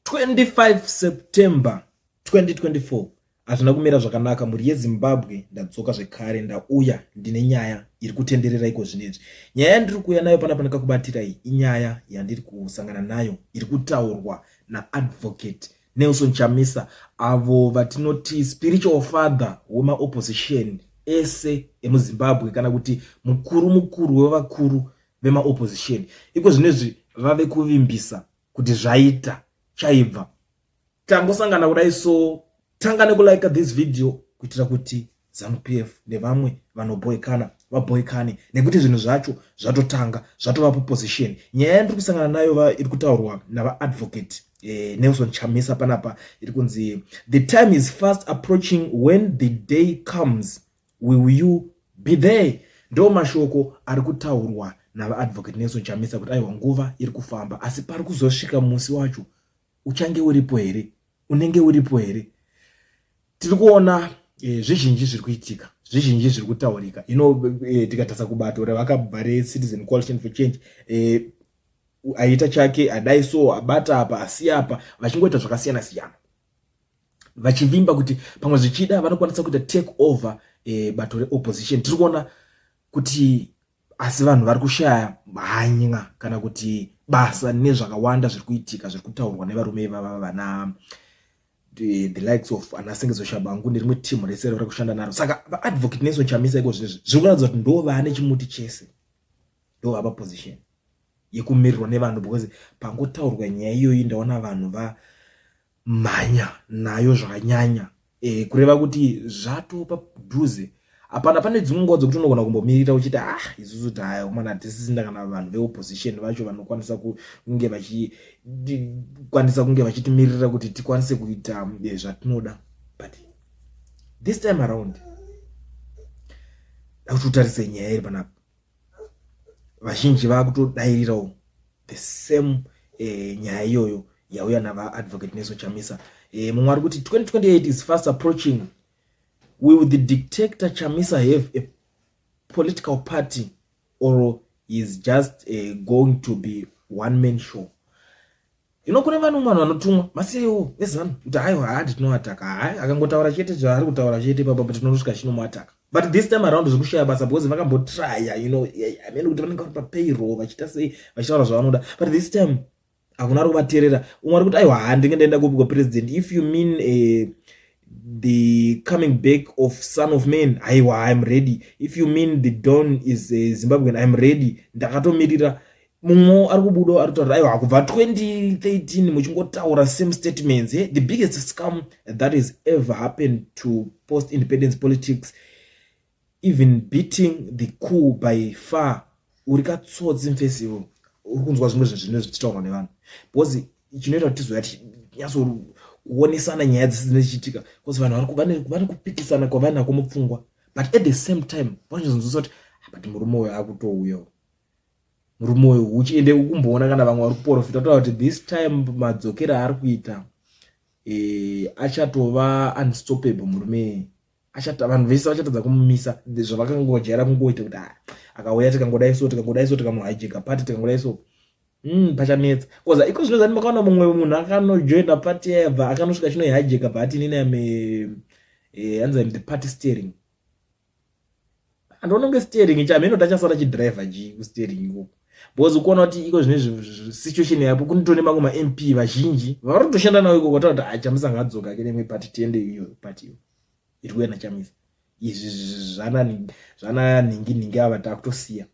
25 September 2024 hazvina kumira zvakanaka mhuri yezimbabwe ndadzoka zvekare ndauya ndine nyaya iri kutenderera iko zvinezvi nyaya yandiri kuuya nayo pana pana kakubatirai inyaya yandiri kusangana nayo iri kutaurwa naadvocate nelson chamisa avo vatinoti spiritual father wemaopposition ese emuzimbabwe kana kuti mukuru mukuru wevakuru vemaopposition iko zvinezvi vave kuvimbisa kuti zvaita chaibva tangosangana kudai so tanga nekulike this video kuitira kuti zanupf nevamwe vanoboikana vaboikane nekuti zvinhu zvacho zvatotanga zvatova proposition nyaya yandiri kusangana nayo iri kutaurwa navaadvocate eh, nelson chamisa panapa iri kunzi the time is fast approaching when the day comes will you be there ndo mashoko ari kutaurwa navaadvocate nelson chamisa kuti aiwa nguva iri kufamba asi pari kuzosvika musi wacho uchange uripo here unenge uripo here tiri kuona e, zvizhinji zviri kuitika zvizhinji zviri kutaurika ino e, tikatarisa kubato ravakabva recitizen coalition for change e, aita chake adai so abata apa asi apa vachingoita zvakasiyana siyana vachivimba kuti pamwe zvichida vanokwanisa kuita take over e, bato reopposition tiri kuona kuti asi vanhu vari kushaya hanya kana kuti basa nezvakawanda zviri kuitika zviri kutaurwa nevarume ivava vana the, the likes of ana sengezo shabangu nerimwe team rese riri kushanda naro saka vaadvocate neso chamisa iko zvinezvi zviri kuratidza kuti ndo vane chimuti chese ndo vapa position yekumirirwa nevanhu because pangotaurwa nyaya iyoyi ndaona vanhu vamhanya nayo zvakanyanya e, kureva kuti zvatopa dhuze hapana pane dzimwe nguva dzekuti unogona kumbomirira uchiti ah isusu taomana tisisina kana vanhu veopposition vacho vanokwanisa kunge vachikwanisa kunge vachitimirira kuti tikwanise kuita eh, zvatinoda but this time around dakuti utarise nyaya iri panapa vazhinji vakutodairirawo the same eh, nyaya iyoyo yauya navaadvocate neso chamisa eh, mumwe ari kuti 2028 is fast approaching will the dictator chamisa have a political party or is just eh, going to be one man show Ino kune vanhu vanhu vanotumwa maseo ezanu kuti haiwa haa nditinoataka hai akangotaura chete zvaari kutaura chete papa but tinosvika chino muataka but this time around zvekushaya basa because vakambotraya you know i mean kuti vanenge vari papayroll vachiita sei vachitaura zvavanoda but this time hakuna ari kuvateerera umwe ari kuti aiwa haa ndinge ndaenda kupi kwapresident if you mean uh, the coming back of son of man aiwa iam ready if you mean the don is uh, zimbabwean iam ready ndakatomirira mumwe ari kubudawo ari kutaura aiwa kubva 2013 muchingotaura same statements eh? the biggest scam that is ever happened to post independence politics even beating the cool by far uri katsotsi mfesi ivo uri kunzwa zvimwe zvezvine zvichitaurwa nevanhu because chinoita kuti tizoya tinyatso kuonesana nyaya dzisi dzine chichitika bcause vanhu vane kupikisana kwavainako mupfungwa but at the same time vanozonzwisa kuti ah, but murume uyo akutouyawo murume uyu huchi ende ukumboona kana vamwe vari kuporofita kutaura kuti this time madzokero aari kuita e, achatova unstoppable murume vanhu vese vachatadza kumumisa zvavakangojaira kungoita kuti ah, akauya tikangodai so tikangodai so tikamuhijeka pati tikangodai so Mm, pachanetsa koza iko zvino zani makaona mumwe munhu akanojoina party yabva akanosvika chinoihijeka bhatinini ame eh, anzi the party steering andononge steering chamheno tachasara chidriver ji kusteering ikoko because ukuona kuti iko zvine situation yapo kunitone mamwe mamp vazhinji vari kutoshanda nawo ikoko takuti a chamisa ngadzoka ke nemwe pati tiende iyo pati iyo iri kuenda chamisa izvi zvana nhingi nhingi ava takutosiya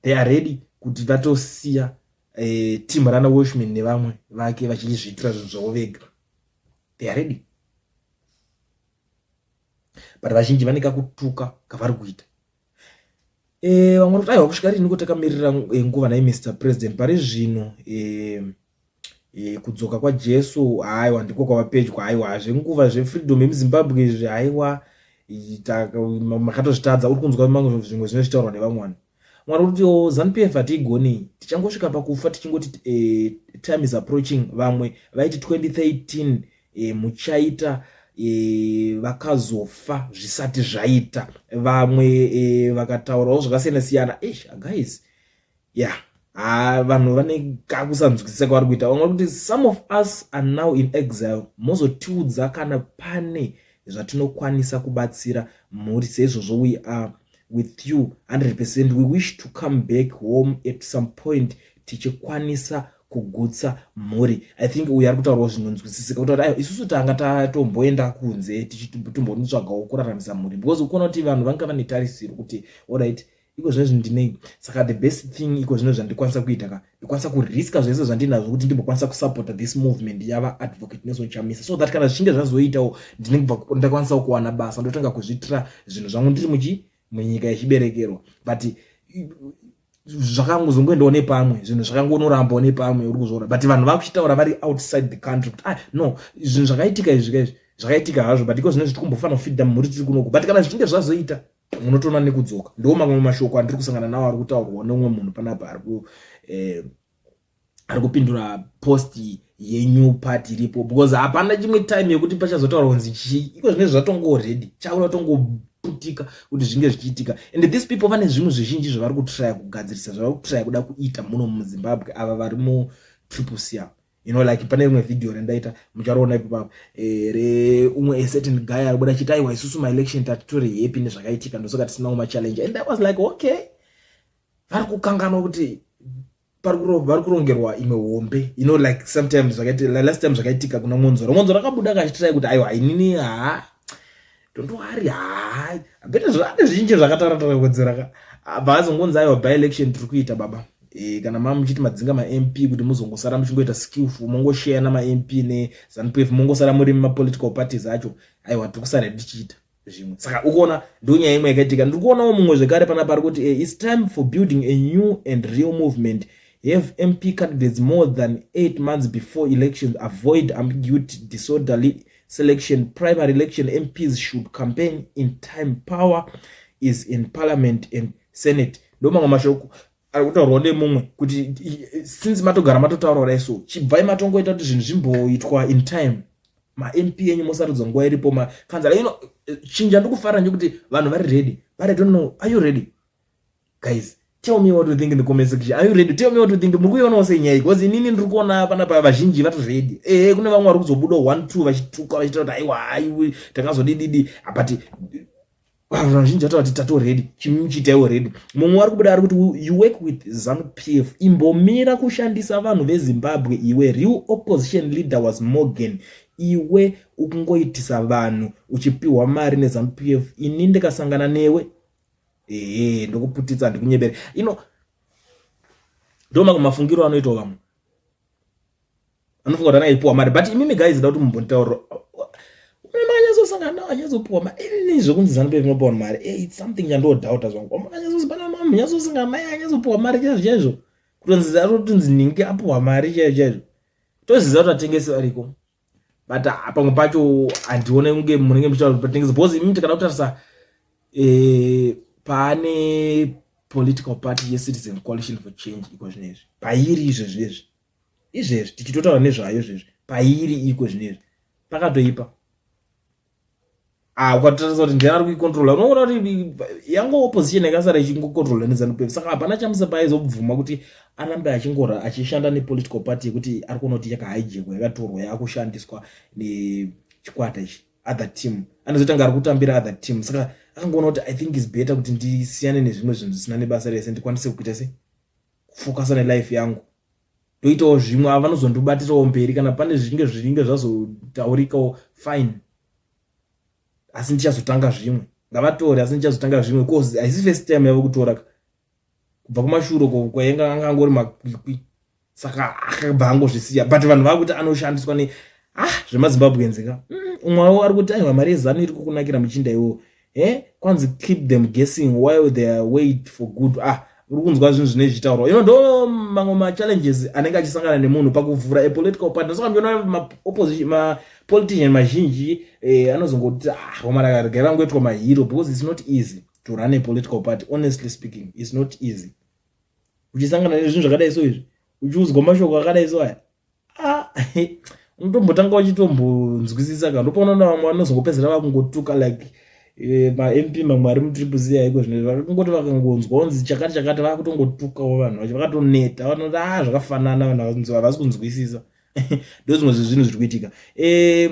they are ready kuti vatosiya eh, team rana washman nevamwe vake vachizviitira zvinhu zvavo vega they are ready but vazhinji vane kakutuka kavari kuita eh, vamwe kuti aiwa kusvika riniko takamirira eh, nguva nai mr president pari zvino eh, eh, kudzoka kwajesu aiwa ndiko kwava pedyo aiwa zvenguva zvefreedom yemuzimbabwe izvi aiwa makatozvitadza uri kunzwa mamwe zvimwe zvinochitaurwa nevamwe vanhu Mwari kuti oh, Zanu PF hatiigonei. Tichangosvika pakufa tichingoti eh, time is approaching. Vamwe vaiti 2013 eh, muchaita eh, vakazofa zvisati zvaita. Vamwe eh, vakataurawo zvakasiyana siyana. Eish, guys. Yeah. haa vanhu vane kakusanzwisisa kwavari kuita vamwe kuti some of us are now in exile mozotiudza kana pane zvatinokwanisa kubatsira mhuri seizvozvo we are with you 100 percent we wish to come back home at some point tichikwanisa kugutsa mhuri i think uyu ari kutaurawo zvinonzwisisika kutaura ayo isusu tanga tatomboenda kunze tichitombonitsvagawo kuraramisa mhuri because ukuona kuti vanhu vanga vane tarisiro kuti orit iko zvezvi ndinei saka the best thing iko zvino zvandikwanisa kuita ka ndikwanisa kuriska zvese zvandinazvo kuti ndimbokwanisa kusupporta this movement yava advocate nelson chamisa so that kana zvichinge zvazoitawo ndinenge bva ndakwanisawo kuwana basa ndotanga kuzviitira zvinhu zvangu ndiri muchi munyika yechiberekerwa but zvakangozongoendawo nepamwe zvinhu zvakangonorambawo nepamwe uri kuzviona but vanhu vakuchitaura vari outside the country kuti ah no zvinhu zvakaitika izvi ka izvi zvakaitika hazvo but iko zvine zvitiri kumbofanira kufidda mhuri tiri kunoku but kana zvichinge zvazoita munotoona nekudzoka ndiwo mamwe mashoko andiri kusangana nawo ari kutaurwa neumwe munhu panapa ari ku eh, ari kupindura post yenew part iripo because hapana chimwe time yekuti pachazotaura kunzi chii iko zvinenge zvatongo ready chaura tongoputika kuti zvinge zvichiitika and these people vane zvinhu zvizhinji zvavari kutraya kugadzirisa zvavari kutraya kuda kuita muno muzimbabwe ava vari mu triple cr you know like pane rimwe video rendaita mucharoona ipo papo e, re umwe a certain guy ari buda chita aiwa isusu maelection tatitori happy nezvakaitika ndosoka tisina kuma challenge and i was like okay vari kukanganwa kuti vari kurongerwa imwe hombe you know like sometimes zvakaita last time zvakaitika kuna monzora monzora akabuda akachitirai kuti aiwa inini haa don't worry hai bete zvane zvizhinji zvakataratara kudzera ka abva azongonzi aiwa by election tiri kuita baba e, kana mama muchiti madzinga mamp kuti muzongosara muchingoita skillful mongosheya namamp nezanp f mongosara muri mapolitical parties acho aiwa tiri kusara tichiita zvimwe saka ukuona ndonyaya imwe yakaitika ndiri kuonawo mumwe zvekare pana pari kuti eh, its time for building a new and real movement have mp candidates more than eight months before elections avoid ambiguity disorderly selection primary election mps should campaign in time power is in parliament and senate ndo mamwe mashoko ari kutaurwa nemumwe kuti since matogara matotaura kudai so chibvai matongoita kuti zvinhu zvimboitwa in time mamp enyu mosarudzo nguva iripo makanzala ino chinja ndikufarira nekuti vanhu vari ready but i don't know are you ready guys tell me what you think in the comment section are you ready tell me what you think muri kuionawo sei nyaya iyi because inini ndiri kuona apa napa vazhinji vatozvedi ehe kune vamwe vari kuzobuda one two vachituka vachita kuti aiwa aiwe takazodididi but vanhu vazhinji vataura kuti tato ready chimimi chiitaiwo ready mumwe wari kubuda ari kuti you work with zanu p f imbomira kushandisa vanhu vezimbabwe iwe real opposition leader was morgan iwe ukungoitisa vanhu uchipiwa mari nezanu p f ini ndikasangana newe ehe ndokuputitsa ndikunyebere ino ndoma kumafungiro anoitwa vamwe anofunga kuti anaipuwa mari but imimi guys da kuti mumbonditaurira unemakanyazosangana nawo anyazopuwa mari ini zvekunzi zanupe vinopuwa mari e its something chandodhauta zvangu amakanyazosibana mama munyazosanga mai anyazopuwa mari chaizvo chaizvo kutonzi arotinzi ningi apuwa mari chaizvo chaizvo toziza kuti atengesi variko but ah, pamwe pacho handione kunge munenge muchitaura kuti patinenge because imi tikada kutarisa eh, pane political party yecitizen coalition for change iko zvino izvi pairi izvezvi ezvi izvezvi tichitotaura nezvayo izvezvi pairi iko zvino izvi pakatoipa ah ukatotarisa kuti ndiani ari kuikontrola unoona kuti yango opposition yakasara ichingokontrola nezanu pf saka hapana chamisa paizobvuma kuti arambe achingora achishanda nepolitical party yekuti ari kuona kuti yakahaijekwa yakatorwa yaakushandiswa nechikwata ichi other team anozotanga ari kutambira other team saka akangoona kuti i think is better kuti ndisiyane nezvimwe zvinhu zvisina nebasa rese ndikwanise kuita se kufokasa nelife yangu ndoitawo zvimwe ava vanozondibatirawo mberi kana pane zvichinge zvichinge zvazotaurikawo fine asi ndichazotanga zvimwe ngavatore asi ndichazotanga zvimwe bcause haisi first time yave kutora kubva kumashuro kwainge anga angori makwikwi saka akabva angozvisiya but vanhu vava kuti anoshandiswa ne ah zvemazimbabwenzeka mm, umwe wavo ari kuti aiwa mari yezanu iri kukunakira muchinda iwowo eh kwanzi keep them guessing while they are wait for good ah uri kunzwa zvinhu zvine zvichitaurwa ino ndo mamwe machallenges anenge achisangana nemunhu pakuvhura a political partner saka ndiona maopposition mapolitician mazhinji eh, anozongoti ah homaraka regai vangoitwa mahero because it's not easy to run a political party honestly speaking it's not easy uchisangana nezvinhu zvakadai so izvi uchiudzwa mashoko akadai so aya ah, unotombotanga wachitombonzwisisa ka ndopaona na vamwe vanozongopedzera vakungotuka like eh, mamp mamwe ari mutriple c aiko zvine vakangoti vakangonzwa onzi chakati chakati vakutongotukawo vanhu vacho vakatoneta vanoti a ah, zvakafanana vanhu havasi kunzwisisa ndo zvimwe zvezvinhu zviri kuitika eh,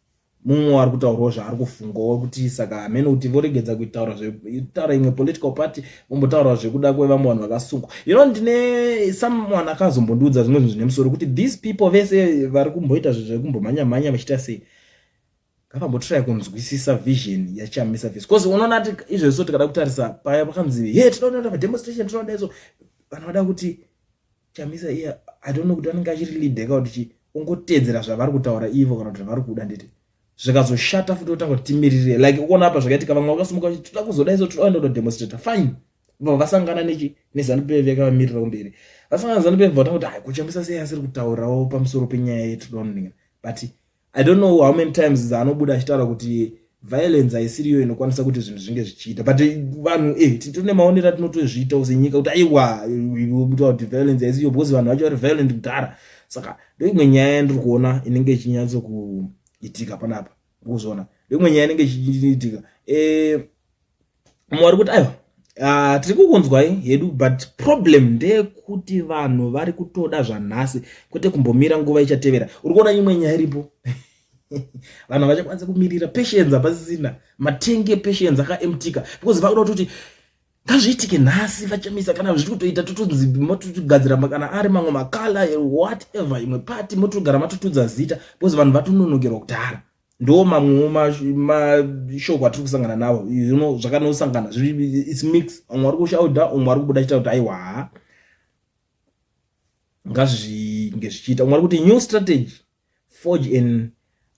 mumwe wari kutaurwa zvaari kufungawo kuti saka hamene kuti voregedza kuitaura zvetaura imwe political party vombotaura zvekuda kwevamwe vanhu vakasungwa you know ndine someone akazombondiudza zvimwe zvinhu zvine musoro kuti these people vese vari kumboita zvinhu zvekumbomhanya mhanya vachiita sei ngavambotirai kunzwisisa vision yachamisa face bcause unoona ati izvezvi so tikada kutarisa paya pakanzi he tinoda kuita mademonstration tinoda izvo vanhu vada kuti chamisa iye i don't know kuti anenge achiri leader ka kuti chii ongoteedzera zvavari kutaura ivo kana kuti zvavari kuda nditi zvikazoshata futi otanga kuti timirire like ukuona apa zvakaitika vamwe vakasimuka kuti toda kuzoda iso toda kuenda kunodemonstrata fine bva vasangana nechi nezanu pf yakavamirira kumberi vasangana nezanu pf vatanga kuti hai kuchamisa sei asiri kutaurawo pamusoro penyaya yetudoninga but i don't know how many times dzaanobuda achitaura kuti violence haisiriyo inokwanisa kuti zvinhu zvinge zvichiita but vanhu eh, tine maonero atinotozviitawo senyika kuti aiwa kutaura kuti violence haisiriyo because vanhu vacho vari violent kudhara saka ndoimwe nyaya yandiri kuona inenge ichinyatso kuitika panapa kuzviona ndoimwe nyaya inenge ichiitika eh, mumwe wari kuti aiwa Uh, tiri kukunzwai hedu but problem ndeyekuti vanhu vari kutoda zvanhasi kwete kumbomira nguva ichatevera uri kuona imwe nyaya iripo vanhu havachakwanisa kumirira patience hapasisina matenge patience akaemtika because vakuda kutoti ngazviitike nhasi vachamisa kana zviri kutoita totonzi motogadzira kana ari mamwe makala whatever imwe pati motogara matotudza zita because vanhu vatononokerwa kudhara ndo mamwewo mashoko atiri kusangana nawo you know zvakanosangana its mix umwe ari kushauda umwe ari kubuda chita kuti aiwa haa ngazvinge zvichiita umwe ari kuti new strategy forge an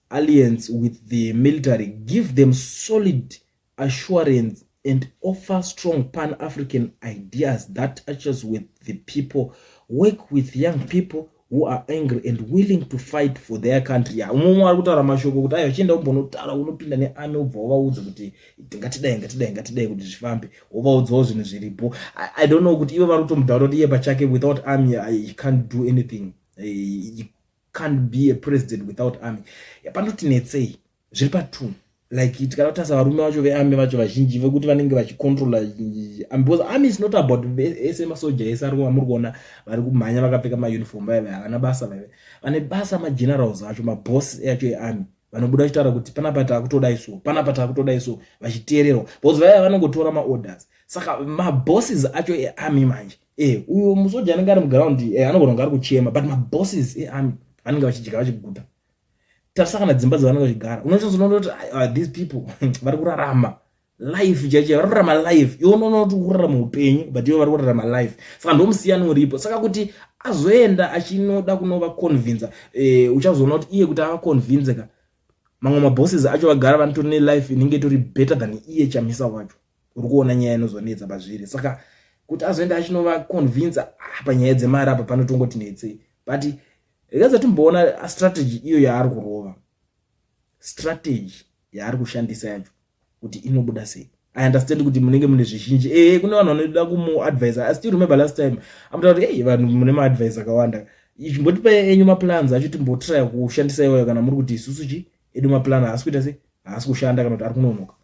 alliance with the military give them solid assurance and offer strong pan african ideas that touches with the people work with young people who are angry and willing to fight for their country ya umwe umwe ari kutaura mashoko kuti ayo chienda umbonotaura unopinda nearmy ubva wovaudza kuti ngatidai ngatidai ngatidai kuti zvifambe wovaudzawo zvinhu zviripo i don't know kuti ivo vari kutomudhaura kuti iye pachake without army i can't do anything eh, can't be a president without army yapanoti netsei zviri patune like tikada kutarisa varume vacho vearmy vacho vazhinji vekuti vanenge vachicontrola um, because army is not about ese masoja ese ari amuri kuona vari kumhanya vakapfeka mauniform vaive havana basa vaive vane basa magenerals acho maboss acho earmy vanobuda vachitaura kuti panapa taakutodai so panapa taakutodai so vachiteererwa because vaive vanongotora maorders saka mabosses acho earmy manje e uyo musoja anenge ari muground e anogona kunge ari kuchema but mabosses earmy anenge vachidya vachiguta tarisa kana dzimba dzavanenge vachigara unochazonona kuti ah, these people vari kurarama life chaicho vari kurarama life iwe unoona kuti kurarama upenyu but iwe vari kurarama life saka ndo musiyano uripo saka kuti azoenda achinoda kunovaconvinza eh, uchazoona kuti iye kuti avaconvinze ka mamwe mabosses acho vagara vanotori nelife inenge itori better than iye chamisa wacho uri kuona nyaya inozonetsa pazviri saka kuti azoenda achinovaconvinza ah, panyaya dzemari apa panotongoti netsei but rega zatimboona strategy iyo yaari kurova strategy yaari kushandisa yacho kuti inobuda sei i understand kuti munenge mune zvizhinji ee kune vanhu vanoda kumuadvisa i still remember last time amuta kuti ei vanhu mune maadvise akawanda imbotipai enyu maplans acho timbotraya kushandisa iwayo kana muri kuti isusu chii edu maplan haasi kuita se haasi kushanda kana kuti ari kunonoka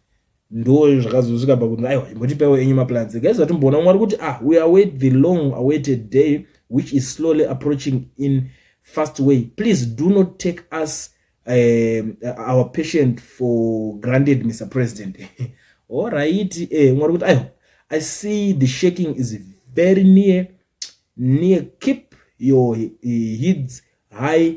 ndo zvakazosvika pakuti aiwa imbotipaiwo enyu maplans guys vatimboona umwe ari kuti ah we await the long awaited day which is slowly approaching in fast way please do not take us um, our patient for granted mr president orit eh, umwe ari kuti aiwa i see the shaking is very near near keep your heads high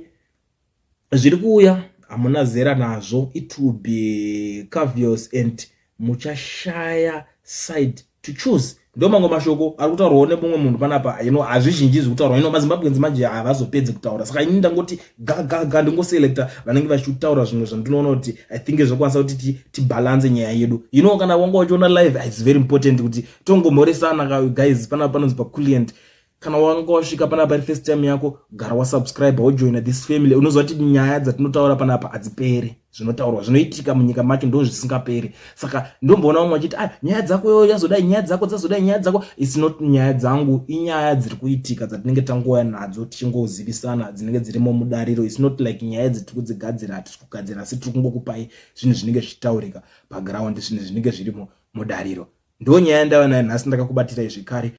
zviri kuuya hamuna zera nazvo it will be cavios and muchashaya side to choose ndo mamwe mashoko ari kutaurwawo nemumwe munhu panapa ino hazvizhinji zviri kutaurwa ino mazimbabwenzi manje havazopedzi kutaura saka ini ndangoti gagaga ndingoselecta vanenge vachitaura zvimwe zvandinoona kuti i think zvokwanisa kuti tibhalanse nyaya yedu ino kana wanga wachiona live its very important kuti tongomhoresana guys panapa panonzi paculient kana wanga wasvika panapa iri first time yako gara wasubscribe wojoina this family unoziva kuti nyaya dzatinotaura panapa hadziperi zvinotaurwa zvinoitika munyika macho ndo zvisingaperi saka ndomboona vamwe vachiti a ah, nyaya dzako yo yazodai nyaya dzako dzazodai nyaya dzako its not nyaya dzangu inyaya dziri kuitika dzatinenge tangouya nadzo tichingozivisana dzinenge dzirimo mudariro its not like nyaya dzatiri kudzigadzira hatisi kugadzira asi tiri kungokupai zvinhu zvinenge zvichitaurika paground zvinhu zvinenge zvirimo mudariro ndo nyaya yandava nayo nhasi ndakakubatirai zvekare